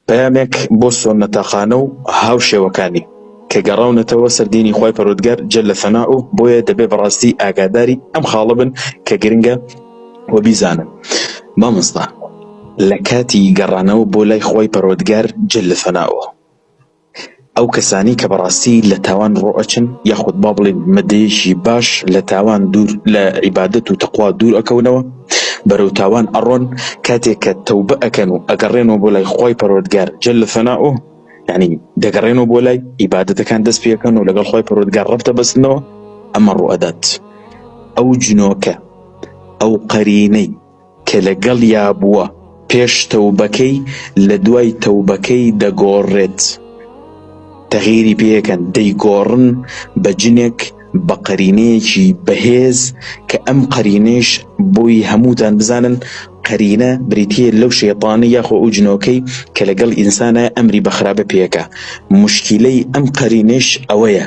پەیامێک بۆ سۆننەتاقانە و هاوشێوەکانی کە گەڕاونەتەوە سەر دینی خوای پەروەردگار جل ثناء و بۆیە دەبێ بەڕاستی ئاگاداری ئەم خاڵە بن کە گرنگە و بیزانن مامۆستا لە کاتی گەڕانەوە بۆ لای خوای پەروەردگار جل ثناء ئەو کەسانەی کە بەڕاستی لە تاوان ڕۆئەچن یاخود با بڵێین مەدەیەکی باش لە تاوان دوور لە عیبادەت و تەقوا دوور ئەکەونەوە بەرەو تاوان ئەڕۆن کاتێک کە تەوبە ئەکەن و ئەگەڕێنەوە بۆ لای خوای پەروەردگار جل ثناؤه یانی دەگەڕێنەوە بۆ لای عیبادەتەکان دەست پێکەن و لەگەڵ خوای پەروەردگار ڕەب دەبەستنەوە ئەمە ڕوئەدات ئەو جنۆکە ئەو قەرینەی کە لەگەڵیا بووە پێش تەوبەکەی لەدوای تەوبەکەی دەگۆڕێت تەغیری پێکەن دەیگۆڕن بە جنێک بە قەرینەیەکی بەهێز کە ئەم قەرینەیش بۆی هەمووتان بزانن قەرینە بریتیە لەو شەیتانە یاخۆ ئەو جنۆکەی کە لەگەڵ ئینسانە ئەمری بە خراپە پێکا موشکیلەی ئەم قەرینەیش ئەوەیە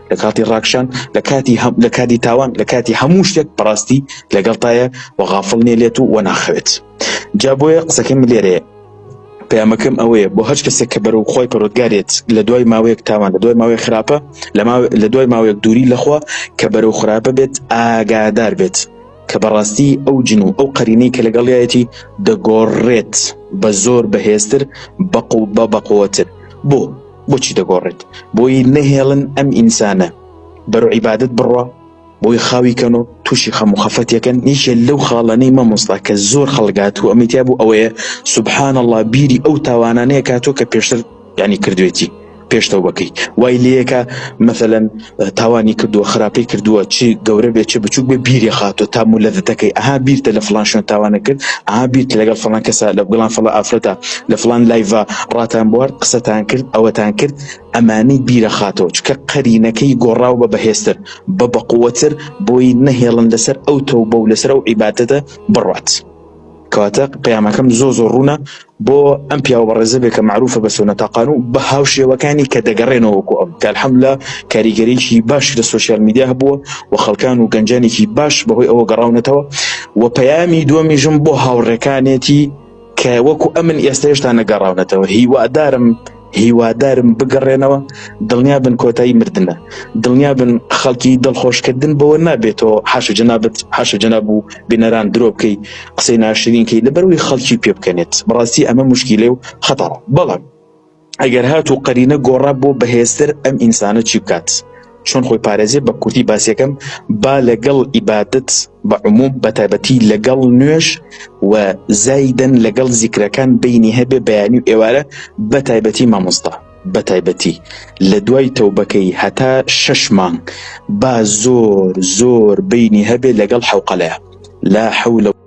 لە کاتی ڕاکشان، لە کاتی هە لە کاتی تاوان، لە کاتی هەموو شتێک بەڕاستی لەگەڵتایە و غافڵ نیە لێت و وەناخەوێت. جا بۆیە قسەکەم لێرەیە. پەیامەکەم ئەوەیە بۆ هەچ کەسێک کە بەرەو خوای پەرۆدگارێت لە دوای ماوەیەک تاوان لە دوای ماوەیە خراپە لە ماو لە دوای ماوەیەک دووری لەخوا کە بەرەو خراپە بێت ئاگادار بێت کە بەڕاستی ئەو جن و ئەو قەرینەی کە لەگەڵیایەتی دەگۆڕێت بە زۆر بەهێزتر بەقو بە بەقوەتر بۆ بۆچی دەگۆڕێت بۆی نەهێڵن ئەم ئینسانە بەرو عیبادت بڕوا بۆی خاوی کەن و تووشی خەم و خەفەتەکەن یەکێ لەو خاڵانەی مەمۆستا کە زۆر خەڵگات و ئەمیتیا بوو ئەوەیە سبحان الله بیری ئەو تاوانانەیە کاتۆ کە پێشتر ینی کردوێتی پێشتەو بەکەی وای لەکە مەسەەن تاوانی کردوە خراپی کردوە چ گەورە بێت چ بچوک بێت بیری خاتوە تا مولەتەکەی ئەها بیرتە لە فڵان شوێن تاوانە کرد ئەها بیرت لەگەڵ فڵان کەسە لە گڵان فڵان ئافرەتە لە فڵان لایڤا ڕاتان بوارد قسەتان کرد ئەوەتان کرد ئەمانەی بیرە خاتەوە چکە قەرینەکەی گۆڕاو بە بەهێزتر بە بەقوەتر بۆی نەهێڵن لەسەر ئەو تەوبە و لەسەر ئەو عیبادەتە بڕوات. کەواتە پەیامەکەم زۆر زۆر ڕوونە بۆ ئەم پیاوە بەڕێزە بێ کە معروفە بە سۆنەتاقان و بە هاوشێوەکانی کە دەگەڕێنەوە وەکو ئەم کە الحمدللە کاریگەریی باشی لە سۆشیال میدیا هەبووە و خەڵکان و گەنجانێکی باش بەهۆی ئەوە گەڕاونەتەوە و پەیامی دووەمیشم بۆ هاوڕێکانێتی کە وەکو ئەمن ئێستا هێشتا نەگەڕاونەتەوە هیوادارم هیوادارم بگەڕێنەوە دڵنیابن کۆتایی مردنە دڵنیابن خەڵکی دڵخۆشکردن بەوە نابێتەوە حاش و جەنابەت حاش و جەناب و بینەران درۆ بکەی قسەی ناشرینکەی لەبەروی خەڵکی پێ بکەنێت بەڕاستی ئەمە مشکیلێ و خەتاڕ بەڵام ئەگەر هات و قەرینە گۆڕا بۆ بەهێزتر ئەم ئینسانە چی بکات چۆن خۆی پارێزێ بە کوردی باسیەکەم با لەگەڵ ئیبادت بە عموم بە تایبەتی لەگەڵ نوێش و زایدن لەگەڵ زیکرەکان بینی هەبێ بەیانی و ئێوارە بە تایبەتی مامۆستا بە تایبەتی لە دوای تەوبەکەی هەتا شەش مانگ با زۆر زۆر بینی هەبێ لەگەڵ حوقەلەیە لا حەولە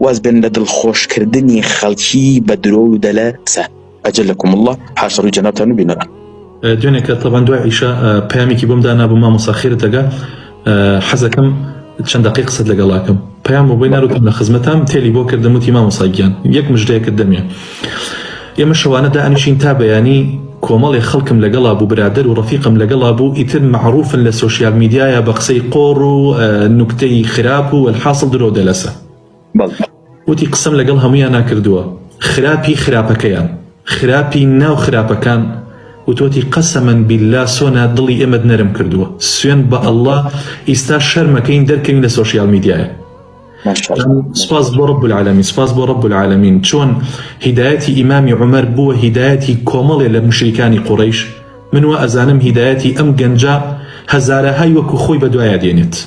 واز بێن لە دڵ خۆش کردنی خەڵکی بە درۆ و دەلە سە ئەجلەکم اللە حاشا ڕووی جەنابتان و بینەران. دوێنێ کە تەبان دوای عیشا پەیامێکی بۆم دانابوو مامۆسا خێرت دەگا حەزەکەم چەند دەقەی قسەت لەگەڵاکەم پەیام بۆ بۆی ناروتم لە خزمەتام تێلی بۆ کردم وتی مامۆسا گیان یەک مژدەیەکت دەمێ ئێمە شەوانە دائەنیشین تا بەیانی کۆمەڵێ خەڵکم لەگەڵا بوو برادەر و ڕەفیقم لەگەڵا بوو ئیتر مەعروفن لە سۆشیال میدیایا بە قسەی قۆڕ و نوکتەی خراپ و وەلحاسڵ درۆ دەلەسە وتی قسەم لەگەڵ هەموویانا کردووە خراپی خراپەکەیان خراپی ناو خراپەکان وتۆتی قەسەمەن بیللا سۆنا دڵی ئێمەت نەرم کردووە سوێند بە اللە ئیستا شەرمەکەین دەرکەوین لە سۆشیال میدیایا. سپاس بۆ رب العالمین سپاس بۆ رب العالمین چۆن هیدایەتی ئیمامی عمر بووە هیدایەتی کۆمەڵێ لە مشریکانی قوڕیش من وە ئەزانم هیدایەتی ئەم گەنجە هەزارەهای وەکو خۆی بەدوایە دێنێت